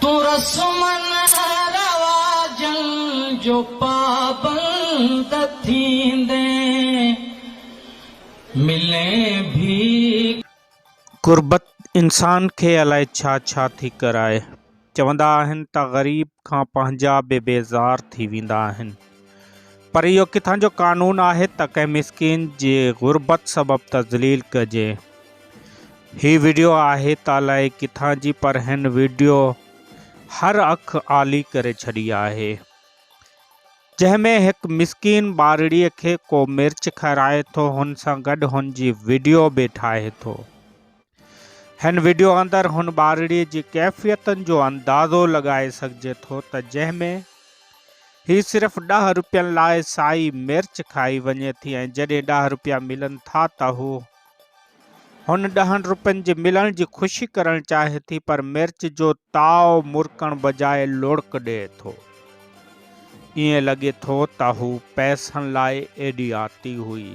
تون رسمن رواجن جو پابند ٿيندين ملين ڀيڪ. غربت انسان کي الائي ڇا ڇا ٿي ڪرائي. چوندا آهن ته غريب کان پنهنجا به بيزار ٿي ويندا آهن. پر اهو ڪٿان جو قانون آهي ته ڪنهن مسڪين جي غربت سبب ته ذليل ڪجي. هي ويڊيو آهي ته الائي ڪٿان جي پر هن ويڊيو هر اک آلي ڪري ڇڏي آهي جنهن ۾ هڪ مسڪين ٻارڙي کي ڪو مرچ کارائي ٿو هن سان گڏ هن جي ويڊيو به ٺاهي ٿو هن ويڊيو اندر هن ٻارڙي جي ڪيفيتن جو اندازو لڳائي سگهجي ٿو ته جنهن ۾ هي صرف ڏهه روپين لاء سائي مرچ کائي وڃي ٿي ۽ جڏهن ڏهه روپيا ملن ٿا ته هو هن ڏهن روپين جي ملڻ جي خوشي ڪرڻ چاهي ٿي پر مرچ جو تاء مرڪڻ بجاء لڙڪ ڏئي ٿو. ائين لڳي ٿو ته هو پئسن لاء ايڏي آتي هئي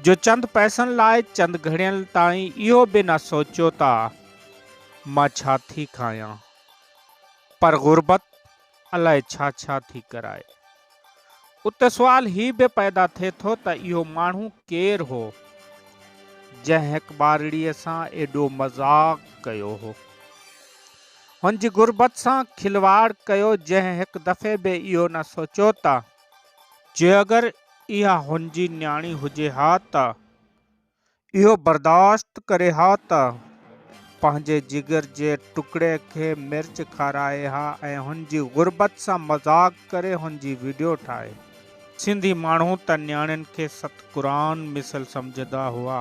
جو چند پئسن لاء چند گهڙين تائين اهو به نه سوچيو ته مان ڇا ٿي کايان پر غربت الاء ڇا ڇا ٿي ڪرائي. اتي سوال هي به پيدا ٿئي ٿو ته اهو ماڻهو ڪير هو جنهن هڪ ٻارڙيء سان ايڏو مذاق ڪيو هو. هن جي غربت سان کلواڙ ڪيو جنهن هڪ دفعي به اهو نه سوچيو ته جي اگر اها هن جي نياڻي هجي ها ته اهو برداشت ڪري ها ته پنهنجي جگر جي ٽڪڙي کي مرچ کارائي ها ۽ هن جي غربت سان مذاق ڪري هن جي وڊيو ٺاهي. سنڌي ماڻهو ته نياڻين کي ست قرآن مثل سمجهندا هئا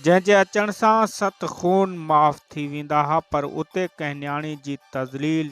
جنهن جي اچڻ سان ست خون معاف ٿي ويندا ها پر اتي ڪنهن نياڻي جي تذليل